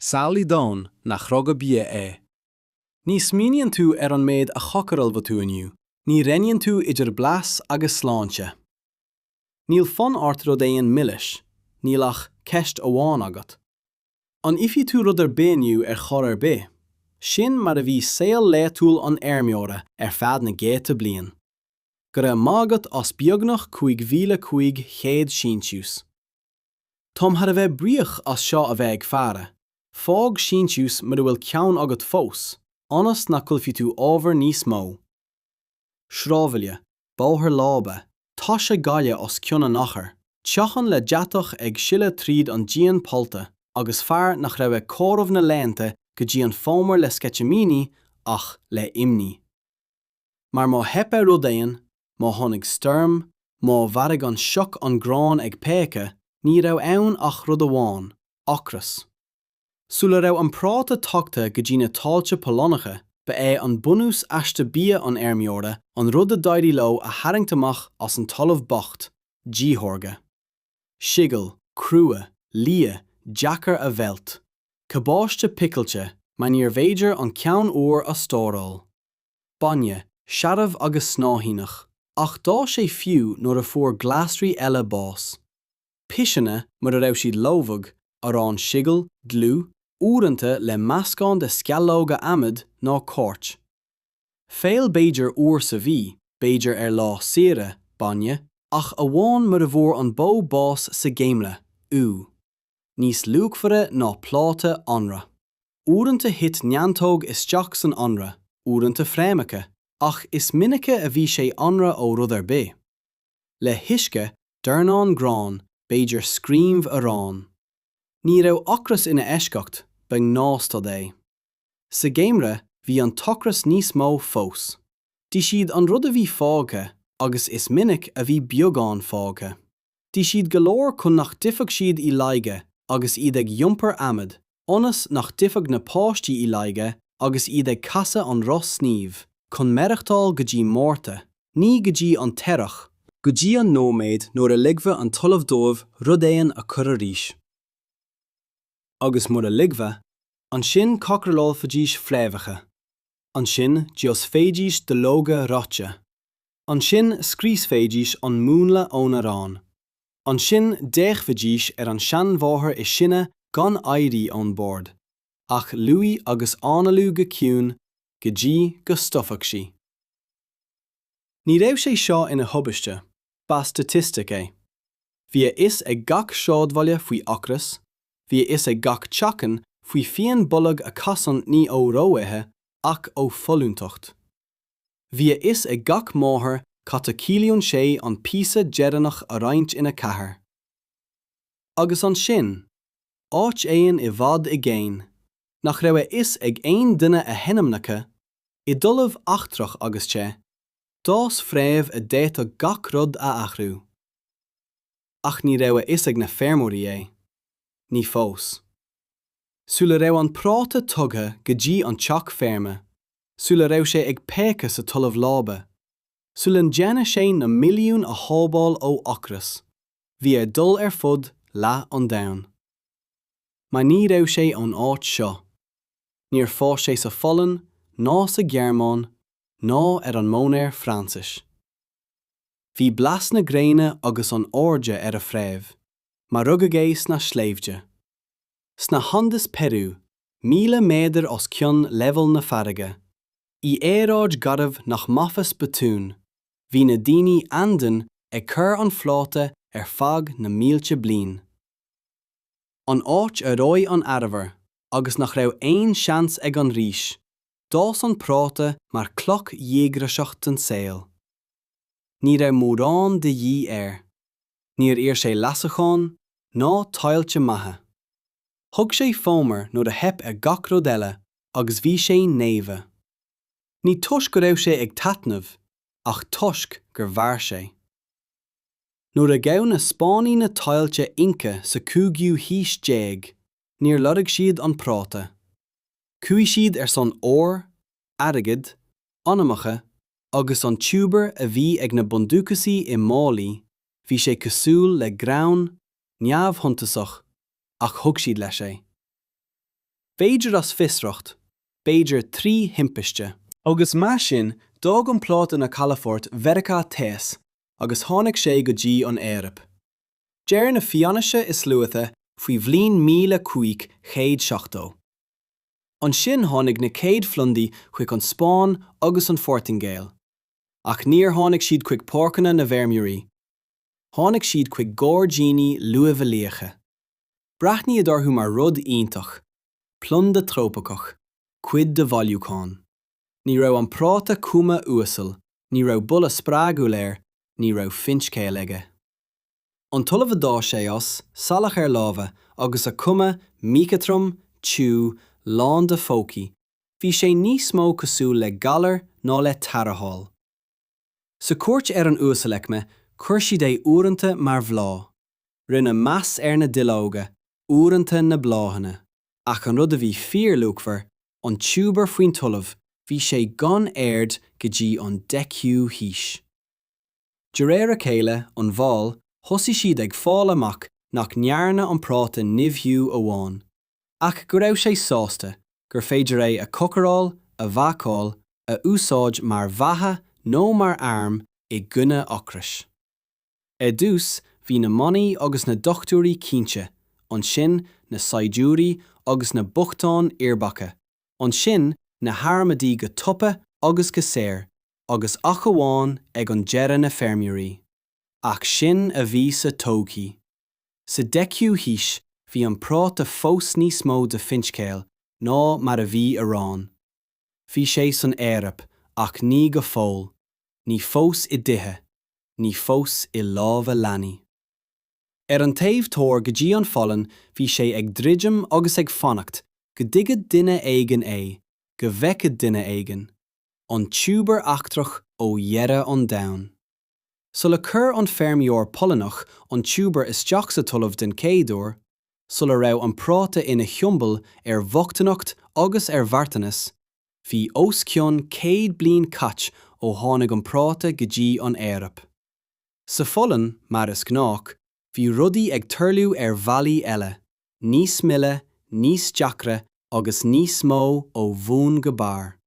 Samhlaigh domhan nach rogha bia é. Ní smaoiníonn tú ar an méid a chócarálfaidh tú inniu, ní roinníonn tú idir blas agus sláinte. Níl fonn ort rud éigin milis, níl ach ceist amháin agat. An ithfidh tú rud ar bith inniu ar chor ar bith? Sin mar a bhí saol laetúil an fheirmeora ar feadh na gcéadta bliain. Go raibh maith agat as beagnach 5,500 síntiús. Táim thar a bheith buíoch as seo a bheith ag faire, fág síntiús mura bhfuil ceann agat fós, ionas nach gcaillfidh tú ábhar níos mó. Sráidbhaile, bóthar láibe, tá sé gaile os cionn an achair, teachín le deatach ag sileadh tríd an díon pollta agus fear nach raibh ag comhaireamh na laethanta go dtí an fómhar le sceitimíní ach le imní. mar má theip ar rud éigin, má tháinig stoirm, má mharaigh an sioc an grán ag péacadh, ní raibh ann ach rud amháin, ocras. Sula raibh an práta tagtha go dtí na tailte Polannacha, ba é an bunús aiste bia an fheirmeora an rud a d'éirigh leo a tharraingt amach as an talamh bocht, díthórga. Seagal, crua, liath, deacair a mheilt. Cabáiste picilte, mar níorbh fhéidir an ceann úr a stóráil. bainne, searbh agus snáithíneach. Ach d'fhás sé fiú nuair a fuair glasraí eile bás. Piseanna, mura raibh siad lobhadh, arán seagail, dlúth, uaireanta le meascán de sceallóga adhmaid nó coirt. Feoil b'fhéidir uair sa mhí, b'fhéidir ar lá saoire, bainne, ach amháin mura bhfuair an bó bás sa gheimreadh, ubh. Níos luachmhaire ná pláta anraith. Uaireanta thit neantóg isteach san anraith, uaireanta fréamhacha, ach is minice a bhí sé anraith ó rud ar bith. Le huisce, dornán gráin, b'fhéidir screamh aráin. Ní raibh ocras ina eisceacht, ba ghnáthstaid é. Sa gheimreadh bhí an t-ocras níos mó fós. D'ith siad an rud a bhí fágtha agus is minic a bhí beagán fágtha. D'ith siad go leor chun nach dtitfeadh siad i laige agus iad ag iompar adhmaid, ionas nach dtitfeadh na páistí i laige agus iad ag casadh an roth snímh, chun maireachtáil go dtí Márta, ní go dtí an t-earrach, go dtí an nóiméad nuair a ligfeadh an talamh dóibh rud éigin a chur arís. Agus mura ligfeadh, ansin cócarálfaidís fréamhacha. Ansin d'íosfaidís duilleoga reoite. Ansin scriosfaidís an múnla ón arán. Ansin d'fhéachfaidís ar an seanmháthair is sine gan éirí ón bord, ach luí agus análú go ciúin, go dtí go stopfadh sí. Ní raibh sé seo ina thubaiste, ba staitistic é. Bhí a fhios ag gach sráidbhaile faoi ocras, bhí a fhios ag gach teachín faoi phian bolg a chasann ní ó ró-ithe ach ó fholúntacht. Bhí a fhios ag gach máthair cad a chiallaíonn sé an píosa deireanach a roinnt ina ceathair. Agus ansin, áit éigin i bhfad i gcéin, nach raibh a fhios ag aon duine a hainmneacha, i dtalamh eachtrach agus te, d'fhás fréamh a d'fhéadfadh gach rud a athrú. Ach ní raibh a fhios ag na feirmeoirí é. Ní fós. Sula raibh an práta tugtha go dtí an teach feirme, sula raibh sé ag péacadh sa talamh láibe, sula ndéanfadh sé na milliúin a shábháil ó ocras, bhí air dul ar fud leath an domhain. Mar ní raibh sé ón áit seo. Níor fhás sé sa Pholainn, ná sa Ghearmáin, ná ar an móinéar Fraincise. Bhí blas na gréine agus an airde ar a phréamh, mar rugadh é sna sléibhte. sna hAndes Peiriú, 1,000 méadar os cionn leibhéal na farraige. In aeráid gharbh nach maitheas botún, bhí na daoine Andean ag cur an phráta ar feadh na mílte bliain. An áit a reoigh an arbhar, agus nach raibh aon seans ag an rís, d'fhás an práta mar chloch dhíograiseach don saol. Ní raibh mórán de dhíth air. Níor iarr sé leasachán ná tailte maithe. Thug sé fómhar nuair a theip ar gach rud eile agus bhí sé naofa. Ní toisc go raibh sé ag taitneamh ach toisc gur mhair sé. Nuair a ghabh na Spáinnigh na tailte Inca sa cúigiú haois déag, níor lorg siad an práta. Chuaigh siad ar son óir, airgid, anamacha agus an tiúbar a bhí ag na bundúchasaigh i málaí, bhí sé cosúil le greann, neamhshuntasach, ach thug siad leis é. B'fhéidir as fiosracht, b'fhéidir trí thimpiste. Agus mar sin, d'fhág an práta na calafoirt Mheiriceá Theas agus tháinig sé go dtí an Eoraip. Deir na fianaise is luaithe faoi bhliain míle cúig chéad seachtó. Ansin tháinig na céad phlandaí chuig an Spáinn agus an Phortaingéil. Ach níor tháinig siad chuig páirceanna na bhfeirmeoirí. Tháinig siad chuig gairdíní luibheolaíocha. Breathnaíodh orthu mar rud iontach, planda trópaiceach, cuid de bhailiúchán. Ní raibh an práta cuma uasal, ní raibh boladh spreagúil air, ní raibh finscéal aige. An talamh a d'fhás sé as, salachar lámha, agus a chuma míchothrom, tiubh, lán de phócaí, bhí sé níos mó cosúil le galar ná le tarrtháil. Sa chúirt ar an uasalaicme, chuir siad é uaireanta mar bhláth. Rinneadh meas ar na duilleoga, uaireanta na bláthanna. Ach an rud a bhí fíorluachmhar, an tiúbar faoin talamh, bhí sé gan aird go dtí an deichiú haois. De réir a chéile, an bhail, thosaigh siad ag fáil amach nach ndearna an práta nimhiú amháin, ach go raibh sé sásta gur féidir é a chócaráil, a bhácáil, a úsáid mar bheatha nó mar arm i gcoinne ocrais. Ar dtús, bhí na manaigh agus na dochtúirí cinnte, ansin na saighdiúirí agus na bochtáin uirbeacha, ansin na harmadaí go tapa agus go saor, agus ach amháin ag an deireadh na feirmeoirí. Ach sin a bhí sa todhchaí. Sa deichiú haois bhí an práta fós níos mó de fhinscéal ná mar a bhí arán. Bhí sé san Eoraip ach ní go fóill, ní fós i dtithe, ní fós i lámha leanaí. Ar an taobh thoir go dtí an Pholainn bhí sé ag druidim agus ag fanacht go dtuigfeadh duine éigin é, go bhfeicfeadh duine éigin. an tiúbar eachtrach ó dheireadh an domhain. Sular chuir an feirmeoir Polannach an tiúbar isteach sa talamh den chéad uair, sula raibh an práta ina shiombail ar bhochtaineacht agus ar mharthanas, bhí os cionn céad bliain caite ó tháinig an práta go dtí an Eoraip. Sa Pholainn, mar is gnách, bhí rudaí ag tarlú ar bhealaí eile. níos mille, níos deacra agus níos mó ó bhun go barr.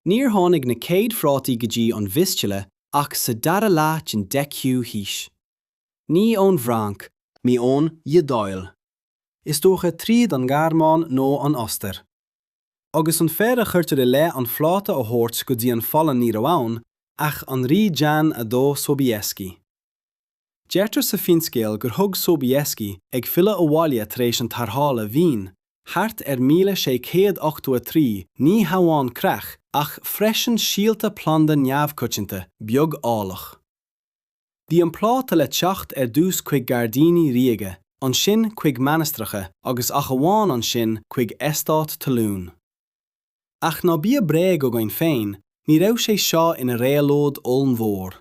Níor tháinig na céad phrátaí go dtí an Vistula ach sa dara leath den deichiú haois. Ní ón bhFrainc. Ní ón Iodáil. Is dócha tríd an nGearmáin nó an Ostair. Agus an fear a chuirtear i leith an phráta a thabhairt go dtí an Pholainn ní raibh ann ach an rí Jan 2 Sobieski. Deirtear sa finscéal gur thug Sobieski, ag filleadh abhaile tar éis an tarrthála Vín, thart ar 1683 ní hamháin creach ach freisin síolta planda neamhchoitianta, beag álach. Bhí an práta le teacht ar dtús chuig gairdíní ríoga, ansin chuig mainistreacha agus ach amháin ansin chuig eastáit talún. Ach ná bíodh bréag againn féin, ní raibh sé seo ina réabhlóid ollmhór.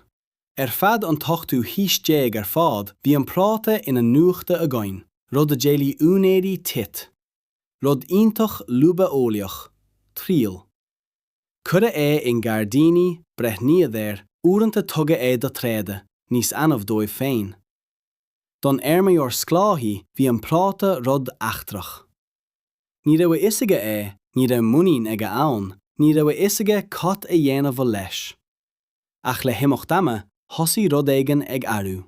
Ar feadh an t-ochtú haois déag ar fad bhí an práta ina nuachta againn, rud a d'éiligh úinéirí tithe. Rud iontach luibheolaíoch. Triail. Cuireadh é i ngairdíní, breathnaíodh air, uaireanta tugadh é do thréada, níos annamh dóibh féin. Don fheirmeoir sclábhaí bhí an práta rud eachtrach. Ní raibh a fhios aige é, ní raibh muinín aige ann, ní raibh a fhios aige cad a dhéanamh leis. Ach le himeacht ama, thosaigh rud éigin ag athrú.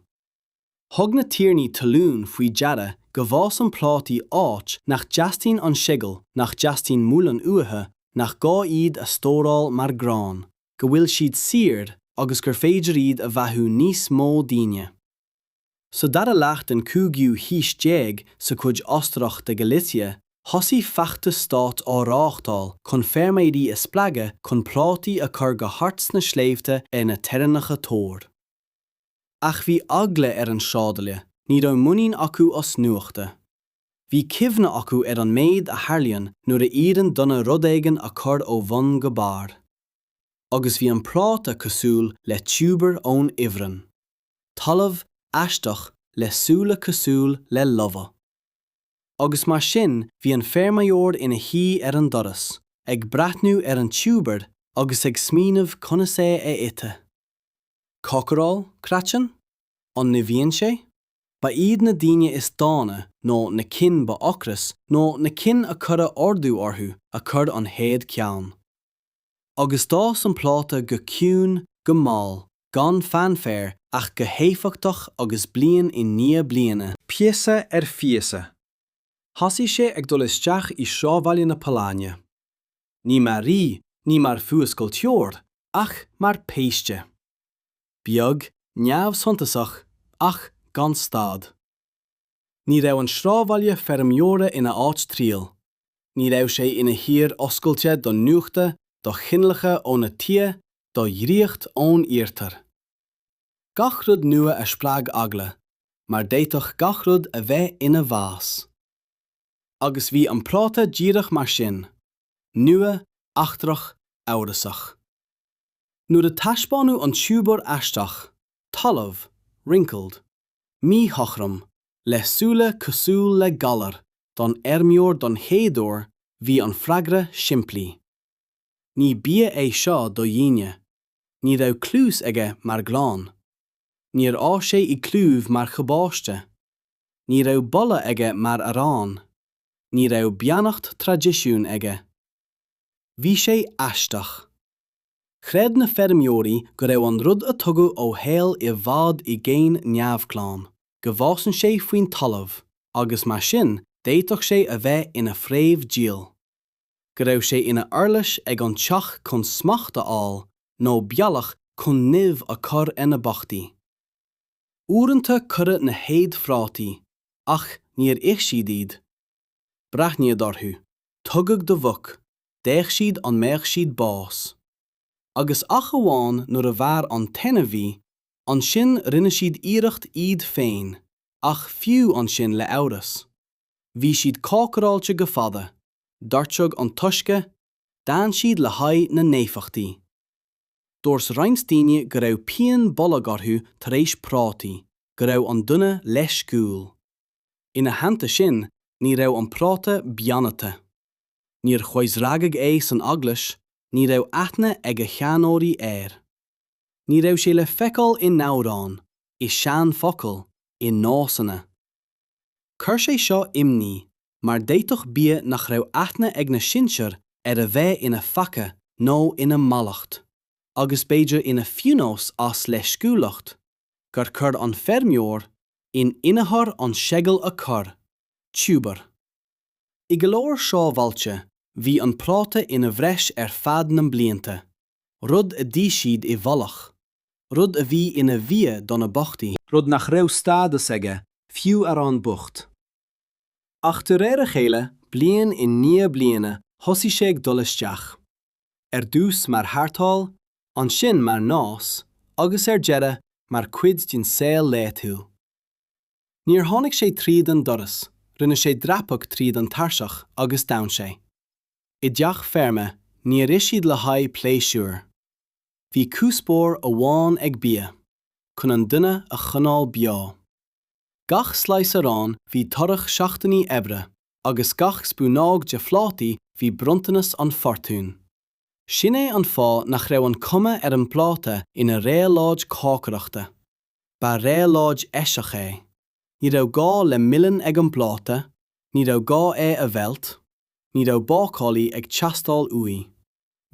Thug na tiarnaí talún faoi deara go bhfásann prátaí áit nach dteastaíonn an seagal, nach dteastaíonn muileann uathu, nach gá iad a stóráil mar grán, go bhfuil siad saor agus gur féidir iad a bheathú níos mó daoine. Sa dara leath den chúigiú haois déag sa chuid Ostarach de Galicia, thosaigh feachtas stáit á reáchtáil chun feirmeoirí a spreagadh chun prátaí a chur go hard sna sléibhte ar na teorainneacha thoir. Ach bhí eagla ar an sráidbhaile, ní raibh muinín acu as nuachta. Bhí cuimhne acu ar an méid a tharlaíonn nuair a iarrann duine rud éigin a chur ó bhun go barr. Agus bhí an práta cosúil le tiúbar ón ifreann. talamh aisteach le súile cosúil le lobhadh. Agus mar sin bhí an feirmeoir ina shuí ar an doras, ag breathnú ar an tiúbar agus ag smaoineamh conas é a ithe. Cócaráil? Craiceann? An nimhíonn sé? Ba iad na daoine is dána nó na cinn ba ocras nó na cinn a cuireadh ordú orthu a chuir an chéad cheann. agus d'fhás an práta go ciúin, go mall, gan fanfare ach go héifeachtach agus bliain i ndiaidh bliana, píosa ar phíosa, thosaigh sé ag dul isteach i sráidbhaile na Polainne, ní mar rí, ní mar fuascailteoir, ach mar phéiste. Beag, neamhshuntasach, ach gan stad. Ní raibh an sráidbhaile feirmeora ina áit triail. Ní raibh sé ina thír oscailte do nuachta, do chineálacha óna tighe, do dhraíocht ón iarthar. Gach rud nua a spreag eagla, mar d'fhéadfadh gach rud a bheith ina bhás. Agus bhí an práta díreach mar sin, nua, eachtrach, amhrasach. Nuair a taispeánadh an tiúbar aisteach, talamh, wrinkled, míchothrom, le súile cosúil le galar don fheirmeoir don chéad uair bhí an freagra simplí. Ní bia é seo do dhaoine. Ní raibh cluas aige mar ghrán. Níor fhás sé i gclúmh mar chabáiste. Ní raibh boladh aige mar arán. Ní raibh beannacht traidisiúin aige. Bhí sé aisteach. Chreid na feirmeoirí go raibh an rud a tugadh ó shaol i bhfad i gcéin neamhghlan, go bhfásann sé faoin talamh, agus mar sin d'fhéadfadh sé a bheith ina phréamh diabhail. Go raibh sé ina uirlis ag an teach chun smacht a fháil, nó bealach chun nimh a chur ar na bochtaí. Uaireanta cuireadh na chéad phrátaí, ach níor ith siad iad. Breathnaíodh orthu, tugadh do mhuc, d'fhéach siad an mbeadh siad bás. Agus ach amháin nuair a mhair an t-ainmhí, ansin rinne siad iarracht iad féin, ach fiú ansin le amhras. Bhí siad cócaráilte go fada, doirteadh an t-uisce, d'fhan siad le haghaidh na n-éifeachtaí. Dúirt roinnt daoine go raibh pian bolg orthu tar éis prátaí, go raibh an duine leisciúil. Ina theannta sin, ní raibh an práta beannaithe. Níor choisreagadh é san eaglais, ní raibh aithne ag a sheanóirí air. Ní raibh sé le feiceáil in amhráin, i seanfhocail, i nósanna. Chuir sé seo imní mar d'fhéadfadh bia nach raibh aithne ag na sinsear air a bheith ina pheaca nó ina mallacht, agus b'fhéidir ina phionós as leisciúlacht, gur chuir an feirmeoir in inneachar an seagal a chur, tiúbar. I go leor sráidbhailte bhí an práta ina bhreis ar feadh na mblianta, rud a d'ith siad i bhfolach, rud a bhí ina bhia do na bochtaí, rud nach raibh stádas aige fiú arán bocht, ach de réir a chéile bliain i ndiaidh bliana thosaigh sé ag dul isteach, ar dtús mar tharrtháil, ansin mar nós agus ar deireadh mar cuid den saol laethúil. Níor tháinig sé tríd an doras, rinne sé dreapadh tríd an tairseach agus d'fhan sé. I dteach feirme, níor ith siad le haghaidh pléisiúir. Bhí cuspóir amháin ag bia, chun an duine a choinneáil beo. Gach slice arán bhí toradh seachtainí oibre agus gach spúnóg de phrátaí bhí bronntanas an Fortún. Sin é an fáth nach raibh an cuma ar an bpráta ina réabhlóid cócaireachta. Ba réabhlóid eiseach é. Ní raibh gá le muileann ag an bpráta, ní raibh gá é a mheilt, ní raibh bácálaí ag teastáil uaidh.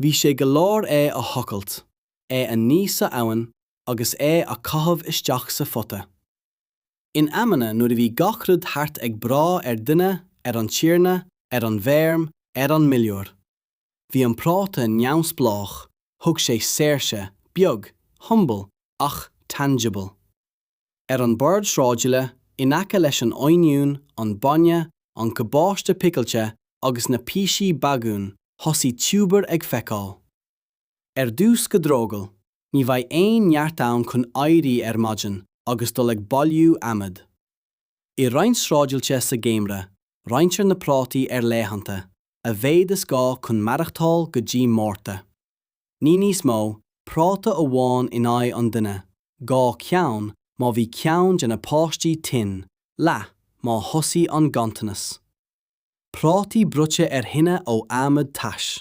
Bhí sé go leor é a thochailt, é a ní sa abhainn agus é a caitheamh isteach sa phota. In amanna nuair a bhí gach rud thart ag brath ar dhuine, ar an tiarna, ar an bhfeirm, ar an muilleoir. Bhí an práta neamhspleách, thug sé saoirse, beag, humble, ach tangible. Ar an bord sráidbhaile, in aice leis an oinniún, an bainne, an cabáiste picilte agus na píosaí bagúin, thosaigh tiúbair ag feiceáil. Ar dtús go drogall, ní bheidh aon neart ann chun éirí ar maidin agus dul ag bailiú adhmaid. I roinnt sráidbhailte sa gheimhreadh, roinntear na prátaí ar laethanta, a mhéad is gá chun maireachtáil go dtí Márta. Ní níos mó, práta amháin in aghaidh an duine, dhá cheann má bhí ceann de na páistí tinn, leath má thosaigh an ganntanas. Prátaí bruite ar thine ó adhmad tais.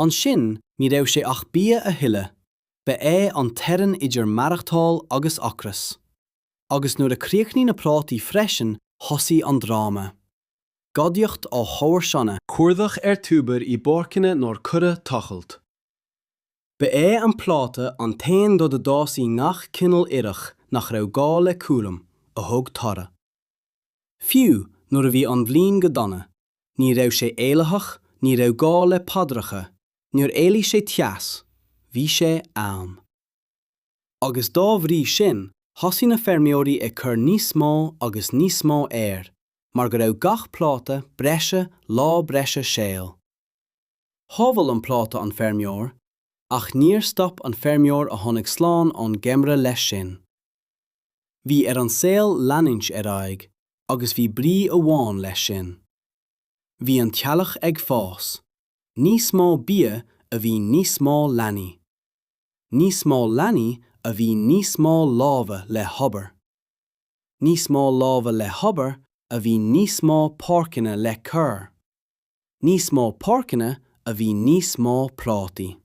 Ansin ní raibh sé ach bia a thuilleadh, ba é an teorainn idir maireachtáil agus ocras. Agus nuair a chríochnaigh na prátaí freisin thosaigh an dráma. Gadaíocht ó chomharsana. Cuardach ar thiúbair i bpáirceanna nár cuireadh tochailt. Ba é an práta an t-aon rud a d'fhás i ngach cineál ithreach nach raibh gá le cúram, a thug toradh. Fiú nuair a bhí an bhliain go dona, ní raibh sé éilitheach, ní raibh gá le paidreacha, níor éiligh sé teas, bhí sé ann. Agus dá bhrí sin, thosaigh na feirmeoirí ag cur níos mó agus níos mó air, mar go raibh gach práta breise lá breise saoil. Shábháil an práta an feirmeoir, ach níor stop an feirmeoir a tháinig slán ón gheimhreadh leis sin. Bhí ar an saol leanúint ar aghaidh agus bhí brí amháin leis sin. Bhí an teaghlach ag fás. Níos mó bia a bhí níos mó leanaí. Níos mó leanaí a bhí níos mó lámha le hobair. Níos mó lámha le hobair a bhí níos mó páirceanna le cur. Níos mó páirceanna a bhí níos mó prátaí.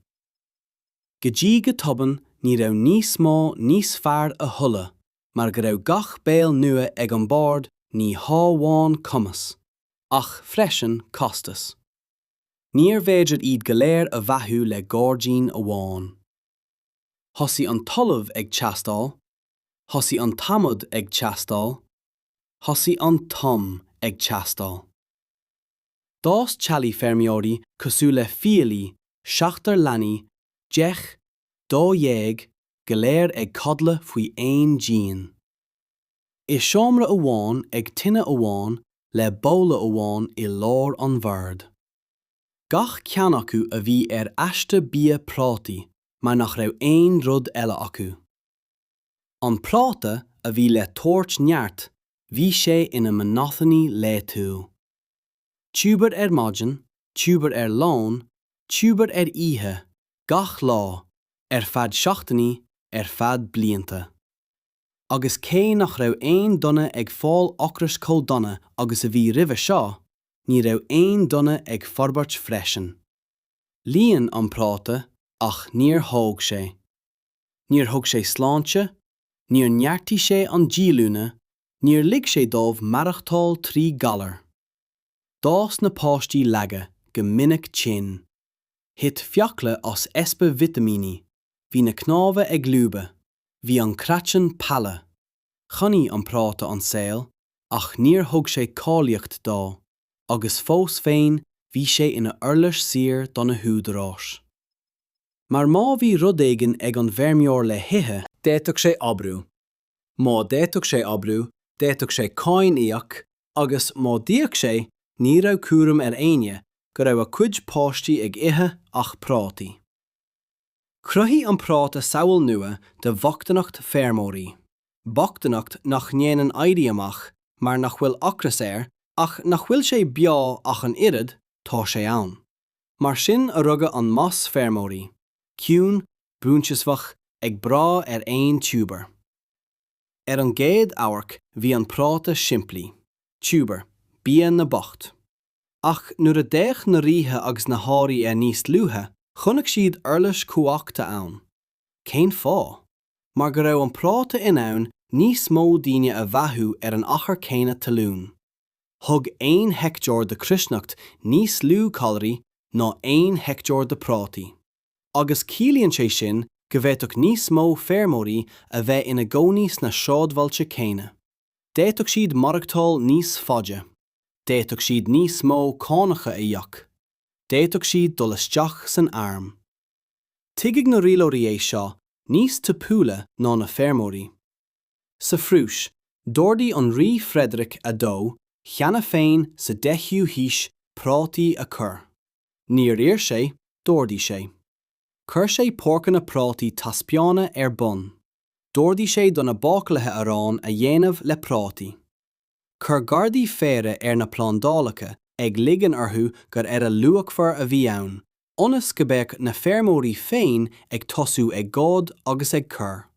Go dtí go tobann ní raibh níos mó níos fearr a thuilleadh mar go raibh gach béal nua ag an bord ní hámháin cumas, ach freisin costas. Níor bhféidir iad go léir a bheathú le gáirdín amháin. Thosaigh an talamh ag teastáil, thosaigh an t-adhmad ag teastáil, thosaigh an t-am ag teastáil. D'fhás teaghlaigh feirmeoirí cosúil le fiailí, seachtar leanaí, deich, dó dhéag, go léir ag codladh faoi aon díon. I seomra amháin ag tine amháin le babhla amháin i lár an bhoird. Gach ceann acu a bhí ar aiste bia prátaí mar nach raibh aon rud eile acu. An práta a bhí le tabhairt neart bhí sé ina monotony laethúil. Tiúbar ar maidin, tiúbar ar lón, tiúbar ar oíche, gach lá, ar feadh seachtainí, ar feadh blianta. Agus cé nach raibh aon duine ag fáil ocrais chomh dona agus a bhí roimhe seo, ní raibh aon duine ag forbairt freisin. Líon an práta ach níor thóg sé. níor thug sé sláinte, níor neartaigh sé an díolúine, níor lig sé dóibh maireachtáil trí ghalar. D'fhás na páistí lag, go minic tinn. Thit fiacla amach as easpa vitimíní, bhí na cnámha ag lúbadh, bhí an craiceann palha. Choinnigh an práta an saol ach níor thug sé cáilíocht dó. agus fós féin bhí sé ina uirlis saor do na húdaráis. Mar má bhí rud éigin ag an bhfeirmeoir le hithe, d'fhéadfadh sé oibriú, má d'fhéadfadh sé oibriú d'fhéadfadh sé cáin íoc agus má d'íoc sé ní raibh cúram ar éinne go raibh a cuid páistí ag ithe ach prátaí. Chruthaigh an práta samhail nua de bhochtaineacht feirmeoirí, bochtaineacht nach ndéanann éirí amach mar nach bhfuil ocras air ach nach bhfuil sé beo ach an oiread, tá sé ann. Mar sin a rugadh an mais feirmeoirí, ciúin, buanseasmhach, ag brath ar aon tiúbar. Ar an gcéad amharc bhí an práta simplí, tiúbar, bia na mbocht. Ach nuair a d'fhéach na ríthe agus na hairí air níos dlúithe, chonaic siad uirlis chumhachta ann. Cén fáth? Mar go raibh an práta in ann níos mó daoine a bheathú ar an achar céanna talún. Thug aon heicteár de chruithneacht níos lú calraí ná aon heicteár de prátaí. Agus ciallaíonn sé sin go bhféadfadh níos mó feirmeoirí a bheith ina gcónaí sna sráidbhailte céanna. D'fhéadfadh siad maireachtáil níos faide. d'fhéadfadh siad níos mó cánacha a íoc, d'fhéadfadh siad dul isteach san arm. Tuigfidh na rialóirí é seo níos tapúla ná na feirmeoirí. Sa Phrúis, d'ordaigh an Rí Frederick a Dó cheana féin sa 10ú haois prátaí a chur. Níor iarr sé, d'ordaigh sé. Chuir sé páirceanna prátaí taispeána ar bun. D'ordaigh sé do na bácálaithe arán a dhéanamh le prátaí. Chuir gardaí faire ar na plándálacha, ag ligean orthu gur earra luachmhar a bhí ann, ionas go mbeadh na feirmeoirí féin ag tosú ag goid agus ag cur.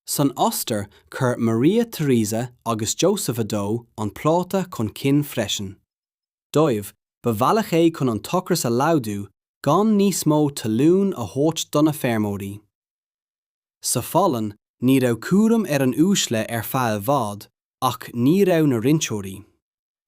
San Ostair, chuir Maria Teresa agus Joseph a dó an práta chun cinn freisin. Dóibh, ba bhealach é chun an t-ocras a laghdú gan níos mó talún a thabhairt do na feirmeoirí. Sa Pholainn ní raibh cúram ar an uaisle ar feadh i bhfad ach ní raibh na roinnteoirí.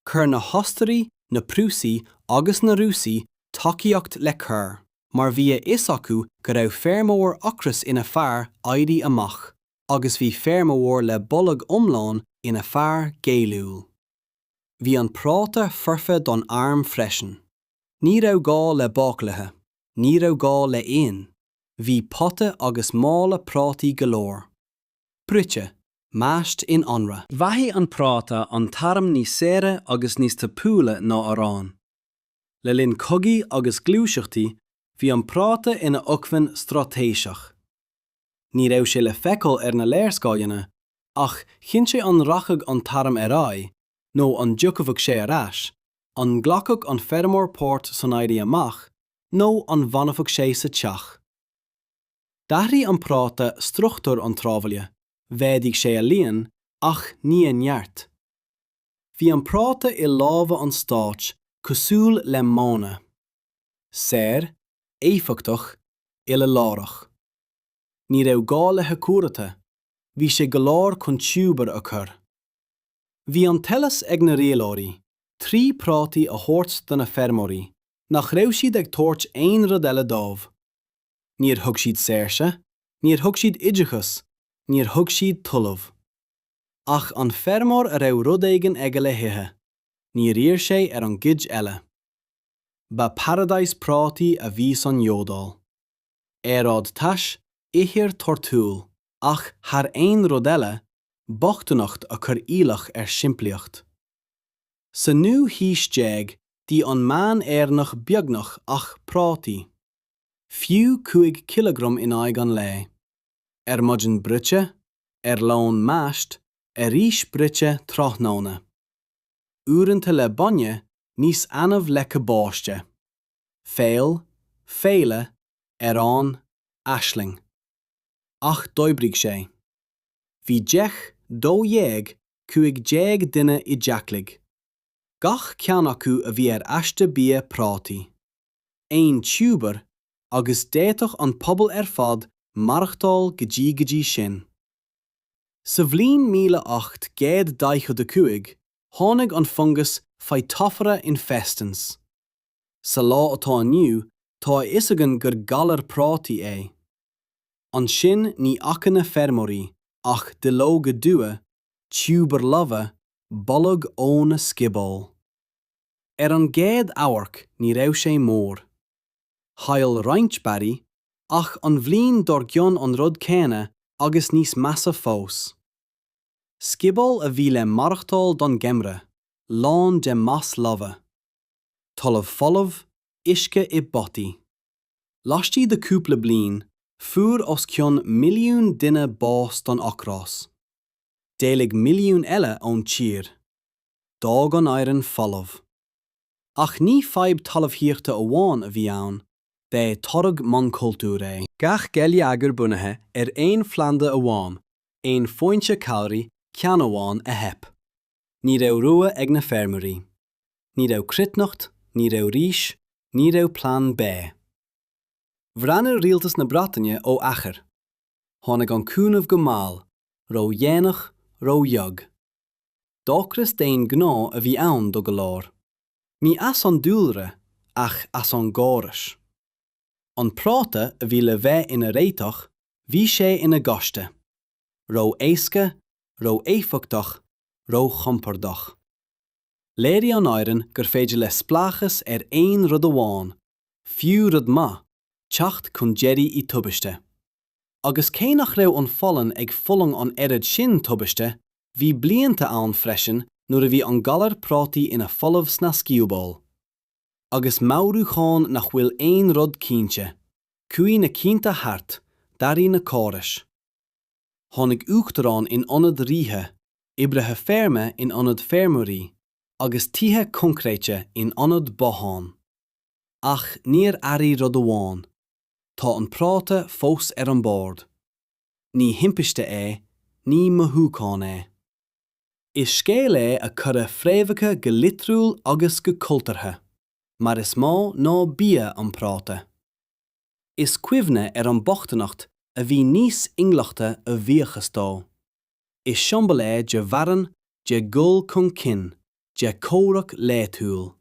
Chuir na hOstairaigh, na Prúsaigh agus na Rúsaigh tacaíocht le cur mar bhí a fhios acu go raibh feirmeoir ocrais ina fear éirí amach agus bhí feirmeoir le bolg iomlán ina fear géilliúil. Bhí an práta foirfe don arm freisin. Ní raibh gá le bácálaithe, ní raibh gá le hoigheann, bhí pota agus mála prátaí go leor. Bruite, mashed in anraith. Bheathaigh an práta an t-arm níos saoire agus níos tapúla ná arán. Le linn cogaí agus gluaiseachtaí, bhí an práta ina acmhainn straitéiseach. Ní raibh sé le feiceáil ar na léarscáileanna ach chinn sé an rachadh an t-arm ar aghaidh nó an dtiocfadh sé ar ais, an nglacfadh an feirmeoir páirt san éirí amach nó an bhfanfadh sé sa teach. D'athraigh an práta struchtúr an tsráidbhaile, mhéadaigh sé a líon ach ní a neart. Bhí an práta i lámha an stáit cosúil le máine. saor, éifeachtach, uile-láithreach. Ní raibh gá le hAcúrata, bhí sé go leor chun tiúbar a chur. Bhí an t-eolas ag na rialóirí, trí prátaí a thabhairt do na feirmeoirí, nach raibh siad ag tabhairt aon rud eile dóibh. Níor thug siad saoirse, níor thug siad oideachas, níor thug siad talamh. Ach an feirmeoir a raibh rud éigin aige le hithe, níor iarr sé ar an gcuid eile. Ba paradise prátaí a bhí san Iodáil. Aeráid tais, ithir torthúil, ach thar aon rud eile, bochtaineacht a chuir iallach ar shimplíocht. Sa naoú haois déag d'ith an meán-Éireannach beagnach ach prátaí. Fiú cúig chileagram in aghaidh an lae. Ar maidin bruite, ar lón mashed, arís bruite tráthnóna. uaireanta le bainne níos annamh le cabáiste. Feoil, féile, arán, aisling. Ach d'oibrigh sé. Bhí deich, dó dhéag, cúig déag duine i dteachlaigh. Gach ceann acu a bhí ar aiste bia prátaí. Aon tiúbar, agus d'fhéadfadh an pobal ar fad maireachtáil go dtí go dtí sin. Sa bhliain míle ocht gcéad daichead a cúig, tháinig an fungas Phytophthora infestans. Sa lá atá inniu, tá a fhios againn gur galar prátaí é. Ansin ní fhaca na feirmeoirí ach duilleoga dubha, tiúbair lofa, boladh ó na sciobóil. Ar an gcéad amharc ní raibh sé mór. Chaill roinnt barraí, ach an bhliain dár gcionn an rud céanna agus níos measa fós. Sciobóil a bhí le maireachtáil don gheimhreadh, lán de mais lofa. Talamh folamh, uisce i bpotaí. Laistigh de cúpla bliain, fuair os cionn milliún duine bás don ocras. D'éalaigh milliún eile ón tír. D'fhág an Éireann folamh. Ach ní fadhb talmhaíochta amháin a bhí ann, b'é toradh monachultúir é. Gach geilleagar bunaithe ar aon phlanda amháin, aon fhoinse calraí, ceann amháin a theip. Ní raibh rogha ag na feirmeoirí. Ní raibh cruithneacht, ní raibh rís, ní raibh plean B. Bhreathnaigh rialtas na Breataine ó achar. Tháinig an cúnamh go mall, ró-dhéanach, ró-bheag. D'ocras d'aon ghnó a bhí ann do go leor. Ní as an dúlra ach as an gcóras. An práta a bhí le bheith ina réiteach, bhí sé ina ghaiste. Ró-éasca, ró-éifeachtach, róchompordach. Léirigh an Éireann gur féidir le spleáchas ar aon rud amháin, fiú rud maith, teacht chun deiridh i dtubaiste. agus cé nach raibh an Pholainn ag fulang an oiread sin tubaiste, bhí blianta ann freisin nuair a bhí an galar prátaí ina folamh sna sciobóil. Agus meabhrúcháin nach bhfuil aon rud cinnte, chuaigh na cianta thart, d'athraigh na córais. Tháinig uachtaráin in ionad ríthe, oibrithe feirme in ionad feirmeoirí, agus tithe coincréite in ionad bothán. Ach níor athraigh rud amháin. Tá an práta fós ar an bord. Ní thimpiste é, ní mothúchán é. Is scéal é a cuireadh fréamhacha go litriúil agus go cultúrtha, mar is mó ná bia an práta. Is cuimhne ar an mbochtaineacht a bhí níos inghlachta a bhuíochas dó. Is siombail é de mharthain, de dhul chun cinn, de chomhrac laethúil.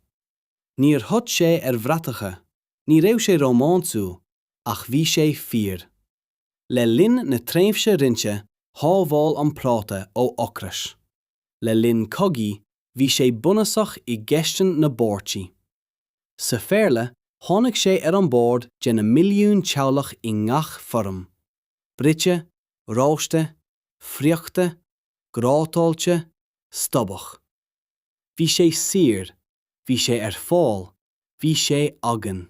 Níor thit sé ar bhratacha, ní raibh sé rómánsúil, ach bhí sé fíor. Le linn na tréimhse roinnte, shábháil an práta ó ocras. Le linn cogaí, bhí sé bunúsach i gcistin na bpáirtí. Sa Phéarla, tháinig sé ar an bord de na milliúin teaghlach i ngach foirm, bruite, rósta, friochta, grátáilte, stobhach. Bhí sé saor, bhí sé ar fáil, bhí sé againn.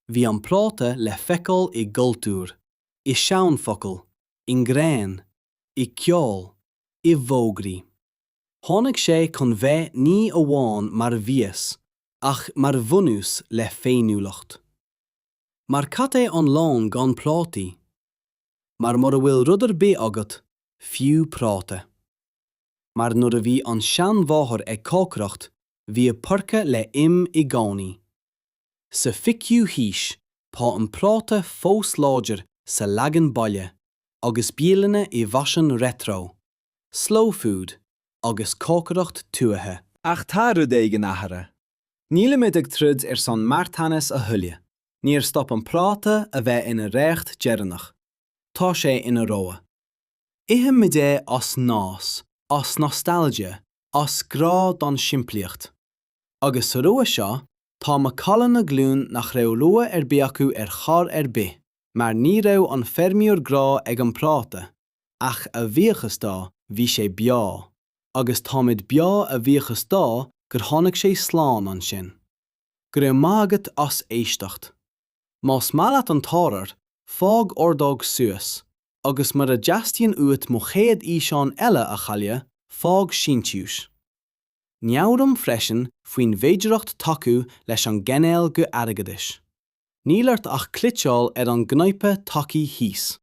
Bhí an práta le feiceáil i gcultúr, i seanfhocail, i ngreann, i gceol, i bhfógraí. Tháinig sé chun bheith ní amháin mar mhias ach mar bhunús le féiniúlacht. Mar cad é an lón gan prátaí? Mar mura bhfuil rud ar bith agat, fiú práta. mar nuair a bhí an seanmháthair ag cócaireacht, bhí a poirce le him i gcónaí. Sa fichiú haois, tá an práta fós láidir sa leagan baile, agus bialanna i bhfaisean retro, slow food agus cócaireacht tuaithe. Ach tá rud éigin athraithe. Nílimid ag troid ar son marthanais a thuilleadh. Níor stop an práta a bheith ina reacht deireanach. Tá sé ina rogha. Ithimid é as nós, as nostalgia, as grá don simplíocht. Agus sa rogha seo, tá macalla na glún nach raibh rogha ar bith acu ar chor ar bith, mar ní raibh an feirmeoir i ngrá ag an bpráta, ach a bhíochas dó, bhí sé beo, agus táimid beo a bhíochas dó gur tháinig sé slán ansin. Go raibh maith agat as éisteacht. Más maith leat an t-ábhar, fág ordóg suas, agus mura dteastaíonn uait mo chéad fhíseán eile a chailleadh, fág síntiús. Meabhraím freisin faoin bhféidearthacht tacú leis an gcainéal go airgeadais. Níl ort ach cliceáil ar an gcnaipe tacaigh thíos.